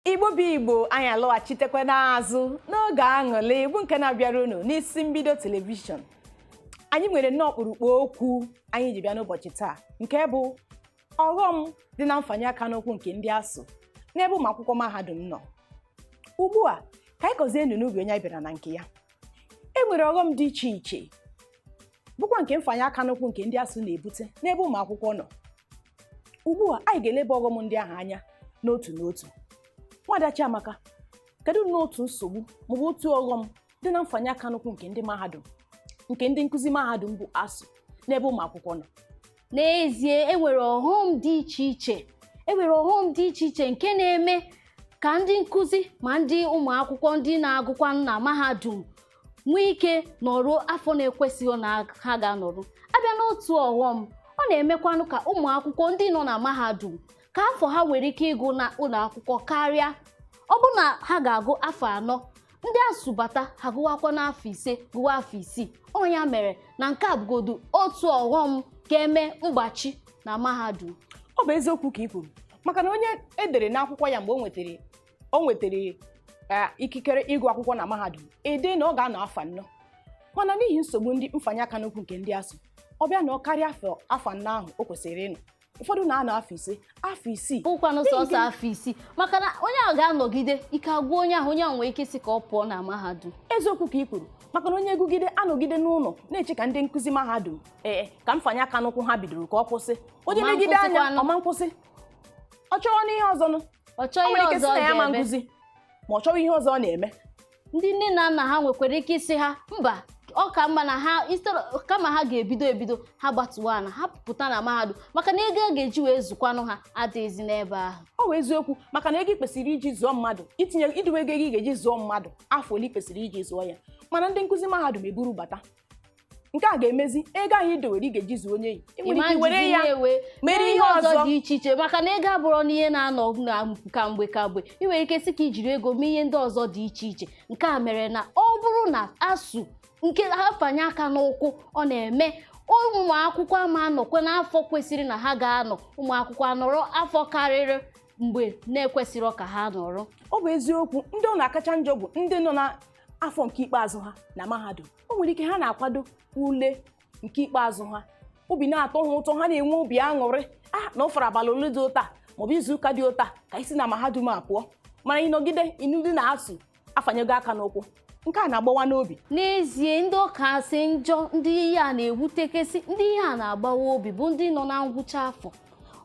igbo bụ igbo anyị alọghachitekwa n'azụ n'oge aṅụrị igbo nke na-abịara unu n'isi mbido telivishọn anyị nwere nnọọ ọkpụrụkpụ okwu anyị ji bịa n'ụbọchị taa nke bụ ọghọm dị na mfanye aka n'ụkwụ nke ndị ASUU n'ebe ụmụ akwụkwọ mahadum nọ ugbu a ka anyị kọzienụ n'ubi onye anyị bịara na nke ya e nwere ọghọm dị iche iche bụkwa nke mfanye aka n'ụkwụ nke ndị ASUU na-ebute n'ebe ụmụ akwụkwọ nọ ugbu a anyị ga-eleba ọghọm ndị ahụ anya n'otu n'otu nwada Chiamaka kedu n'otu nsogbu maọbụ otu ọghọm dị na mfanye aka n'ụkwụ nke ndị mahadum nke ndị nkụzi mahadum bụ ASUU n'ebe ụmụ akwụkwọ nọ n'ezie e nwere ọghọm dị iche iche e nwere ọghọm dị iche iche nke na-eme ka ndị nkụzi ma ndị ụmụ akwụkwọ ndị na-agụkwa na mahadum nwee ike nọruo afọ na-ekwesịghị na ha ga-anọru a bịa n'otu ọghọm ọ na-emekwanụ ka ụmụ akwụkwọ ndị nọ na mahadum ka afọ ha nwere ike ịgụ na ụlọ akwụkwọ karịa ọ bụ na ha ga-agụ afọ anọ ndị ASUU bata ha gụwakwa n'afọ ise gụwa afọ isii ọ ya mere na nke a bụgodu otu ọghọm ga-eme mgbachi na mahadum ọ bụ eziokwu ka ị kwuru maka na onye e dere n'akwụkwọ ya mgbe o nwetara o nwetara eh, ikikere ịgụ akwụkwọ na mahadum e dee na ọ ga-anọ afọ anọ mana n'ihi nsogbu ndị mfanye aka n'ụkwụ nke ndị ASUU ọ bịa nọkarịa afọ afọ anọ ahụ o kwesịrị ịnọ ụfọdụ na-anọ afọ ise afọ isii bụkwanụ sọsọ afọ isii maka na onye ahụ ga-anọgide ike agwụ onye ahụ onye ahụ nwere ike sị ka ọ pụọ na mahadum eziokwu ka ị kwuru maka na onye gụgide anọgide n'ụlọ na-eche ka ndị nkụzi mahadum ee ka mfanye aka n'ụkwụ ha bidoro ka ọ kwụsị onye legide anya ọ ma nkwụsị ọ chọrọ n'ihe ọzọ nụ ọ chọọ ihe ọzọ ọ ga-eme ma ọ chọrọ ihe ọzọ ọ na-eme ndị nne na nna ha nwekwara ike ịsị ha mba ọ ka mma na ha instead of- kama ha ga-ebido ebido ha gbatuwa na ha pụta na mahadum maka na ego a ga-eji wee zụkwanụ ha adịghịzi n'ebe ahụ ọ bụ eziokwu maka na ego ị kwesịrị iji zụọ mmadụ itinye idowe ego ị ga-eji zụọ mmadụ afọ ole ị kwesịrị iji zụọ ya mana ndị nkụzi mahadum eburu bata nke a ga-emezi ego ahụ i dowere ị ga-eji zụọ onye yi ị nwere ike were ya mere ihe ọzọ dị iche iche maka na ego abụrọ na ihe na-anọ n'aka mgbe kamgbe ị nwere ike sị ka i jiri ego mee ihe ndị ọzọ dị iche iche nke a mere na ọ bụrụ na ASUU nke afanye aka n'ụkwụ ọ na-eme ụmụ akwụkwọ ama anọkwa n'afọ kwesịrị na ha ga-anọ ụmụ akwụkwọ anọrọ afọ karịrị mgbe na-ekwesịrị ka ha nọrọ ọ bụ eziokwu ndị ọ na-akacha njọ bụ ndị nọ na afọ nke ikpeazụ ha na mahadum o nwere ike ha na-akwado ule nke ikpeazụ ha obi na-atọ ha ụtọ ha na-enwe obi aṅụrị na ọ fọrọ abalị ole dị ụta maọbụ izu ụka dị ụta ka i si na mahadum a pụọ mana ị nọgide ịnụdị na ASUU afanyego aka n'ụkwụ nke a na-agbawa n'obi n'ezie ndị ọ kasị njọ ndị ihe a na-ewutekesị ndị ihe a na-agbawa obi bụ ndị nọ na ngwụcha afọ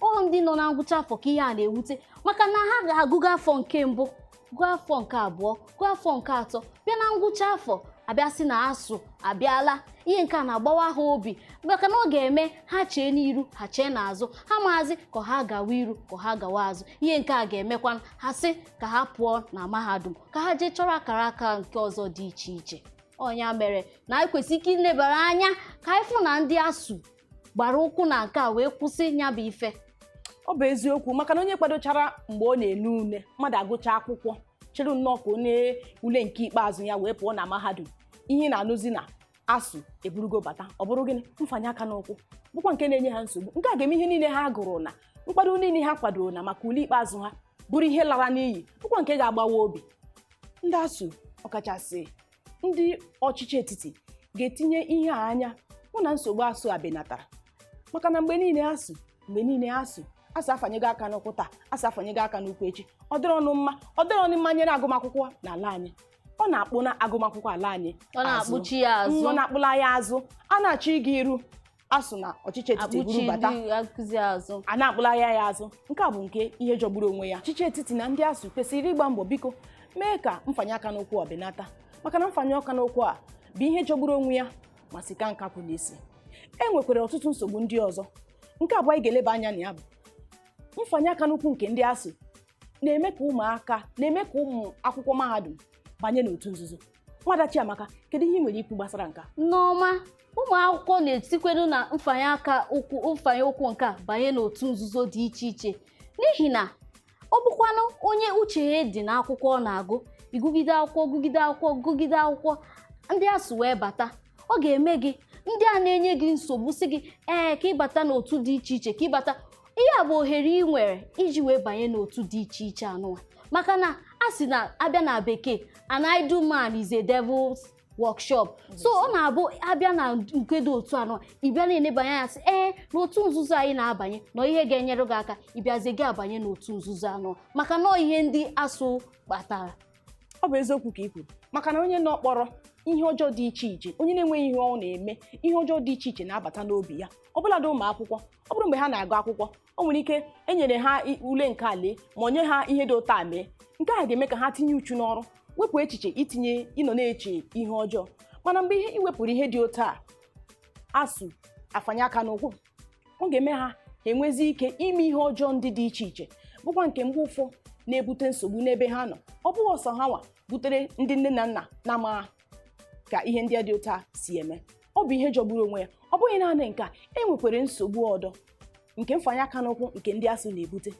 ọ ndị nọ na ngwụcha afọ ka ihe a na-ewute maka na ha ga-agụgo afọ nke mbụ gụọ afọ nke abụọ gụọ afọ nke atọ bịa na ngwụcha afọ a bịa sị na ASUU abịala ihe nke a na-agbawa ha obi maka na ọ ga-eme ha chee n'iru ha chee n'azụ ha amazị ka ha gawa iru ka ha gawa azụ ihe nke a ga-emekwa ha sị ka ha pụọ na mahadum ka ha jee chọrọ akara aka nke ọzọ dị iche iche ọ nya mere na anyị kwesịrị ike ilebara anya ka anyị fụ na ndị ASUU gbara ụkwụ na nke a wee kwụsị ya bụ ife ọ bụ eziokwu maka na onye kwadochara mgbe ọ na-ele ule mmadụ agụcha akwụkwọ chere nnọọ ka o nee ule nke ikpeazụ ya wee pụọ na mahadum ihe na-anụzi na ASUU eburugo bata ọ bụrụ gịnị mfanye aka n'ụkwụ bụkwa nke na-enye ha nsogbu nke a ga-eme ihe niile ha gụrụ na nkwado niile ha kwadoro na maka ule ikpeazụ ha bụrụ ihe lara n'iyi bụkwa nke ga-agbawa obi ndị ASUU ọkachasị ndị ọchịchị etiti ga-etinye ihe a anya hụ na nsogbu ASUU a benatara maka na mgbe niile ASUU mgbe niile ASUU ASUU afanyego aka n'ụkwụ taa ASUU afanyego aka n'ụkwụ echi ọ dịrọnụ mma ọ dịrọnụ mma nyere agụmakwụkwọ n'ala anyị ọ na-akpụna agụmakwụkwọ ala anyị ọ na-akpụchi ya azụ ọ na-akpụla ya azụ a na-achọ ịga iru ASUU na ọchịchị etiti akpụchi buru bata ndị akụzi azụ a na-akpụlagha ya azụ nke a bụ nke ihe jọgburu onwe ya ọchịchị etiti na ndị ASUU kwesịrị ịgba mbọ biko mee ka mfanye aka n'ụkwụ a benata maka na mfanye aka n'ụkwụ a bụ ihe jọgburu onwe ya ma si ka nkakwụ n'isi e nwekwara ọtụtụ nsogbu ndị ọzọ nke abụọ anyị ga-eleba anya na ya bụ mfanye aka n'ụkwụ nke ndị ASUU na-eme ka ụmụaka na-eme ka ụmụ akwụkwọ mahadum banye n'otu nzuzo nwada Chiamaka kedu ihe ị nwere ikwu gbasara nke a Nneọma ụmụ akwụkwọ na-etikwenu na mfanye aka ụkwụ mfanye ụkwụ nke a banye n'otu nzuzo dị iche iche n'ihi na ọ bụkwanụ onye uche ya dị n'akwụkwọ ọ na-agụ ị gụgide akwụkwọ gụgide akwụkwọ gụgide akwụkwọ ndị ASUU wee bata ọ ga-eme gị ndị a na-enye gị nsogbu sị gị ee ka ị bata n'otu dị iche iche ka ị bata ihe a bụ ohere ị nwere iji wee banye n'otu dị iche iche anụwa maka na a sị na a bịa na bekee an idle man is a devil's workshop so ọ na-abụ a bịa na nke dị otu anụwa ị bịa na-enebanye anya sị ee n'otu nzuzo anyị na-abanye na ọ ihe ga-enyere gị aka ị bịazie gị abanye n'otu nzuzo anụwa maka na ọ ihe ndị ASUU kpatara ọ bụ eziokwu ka i kwuru maka na onye nọ kpọrọ ihe ọjọọ dị iche iche onye na-enweghị ihe ọ na-eme ihe ọjọọ dị iche iche na-abata n'obi ya ọbụladị ụmụ akwụkwọ ọ bụrụ mgbe ha na-agụ akwụkwọ o nwere ike e nyere ha i- ule nke a lee ma o nye ha ihe dị otu a mee nke a ga-eme ka ha tinye uchu n'ọrụ wepụ echiche itinye ịnọ na-eche ihe ọjọọ mana mgbe ihe i wepụrụ ihe dị otu a asuu afanye aka n'ụkwụ ọ ga-eme ha enwezi ike ime ihe ọjọọ ndị dị iche iche bụkwa nke mgbe ụfọ na-ebute nsogbu n'ebe ha nọ ọ bụghị sọ ha nwa butere ndị nne na nna na-amaghị ka ihe ndị dị otu a si eme ọ bụ ihe jọgburu onwe ya ọ bụghị naanị nke a e nwekwara nsogbu ọdọ nke mfanye aka n'ụkwụ nke ndị asuu na-ebute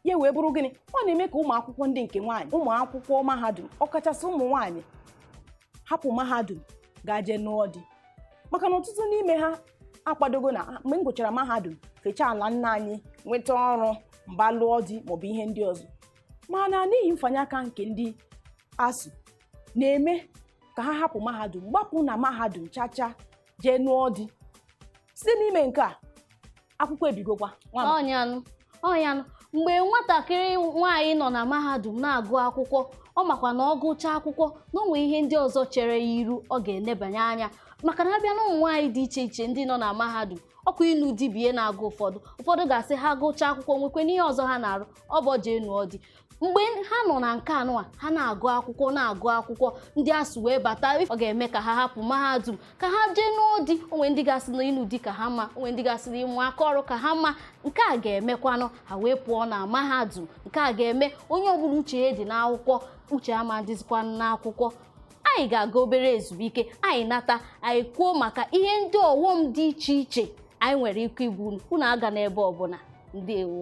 ya wee bụrụ gịnị ọ na-eme ka ụmụ akwụkwọ ndị nke nwaanyị ụmụ akwụkwọ mahadum ọkachasị ụmụ nwaanyị hapụ mahadum gaa jee nụọ di maka na ọtụtụ n'ime ha akwadogo na mgbe m gụchara mahadum fechaa ala nna anyị nweta ọrụ m bịa lụọ di maọbụ ihe ndị ọzọ mana n'ihi mfanye aka nke ndị asuu na-eme ka ha hapụ mahadum gbapụ na mahadum chacha jee nụọ di site n'ime nke a akwụkwọ ebigokwa nwa m ọ nyanụ ọ nyanụ mgbe nwatakịrị nwaanyị nọ na mahadum na-agụ akwụkwọ ọ makwa na ọ gụchaa akwụkwọ na o nwe ihe ndị ọzọ chere ya iru ọ ga-enebanye anya maka na a bịa na ụmụ nwaanyị dị iche iche ndị nọ na mahadum ọ kwa ịnụ di bụ ihe na-agụ ụfọdụ ụfọdụ ga-asị ha gụchaa akwụkwọ nwekwenụ ihe ọzọ ha na-arụ ọ bụ o jee nụọ di mgbe ha nọ na nke anụwa ha na-agụ akwụkwọ na-agụ akwụkwọ ndị asuu wee bata ọ ga-eme ka ha hapụ mahadum ka ha jee nụọ di o nwe ndị ga-asị na ịnụ di ka ha mma o nwe ndị ga-asị na ịmụ aka ọrụ ka ha mma nke a ga-emekwanụ ha wee pụọ na mahadum nke a ga-eme onye ọbụla uche ya dị n'akwụkwọ uche ama dịzikwa n'akwụkwọ anyị ga-aga obere ezumike anyị nata anyị kwuo maka ihe ndị ọghọm dị iche iche anyị nwere ike ibu unu agana ebe ọbụla ndeewo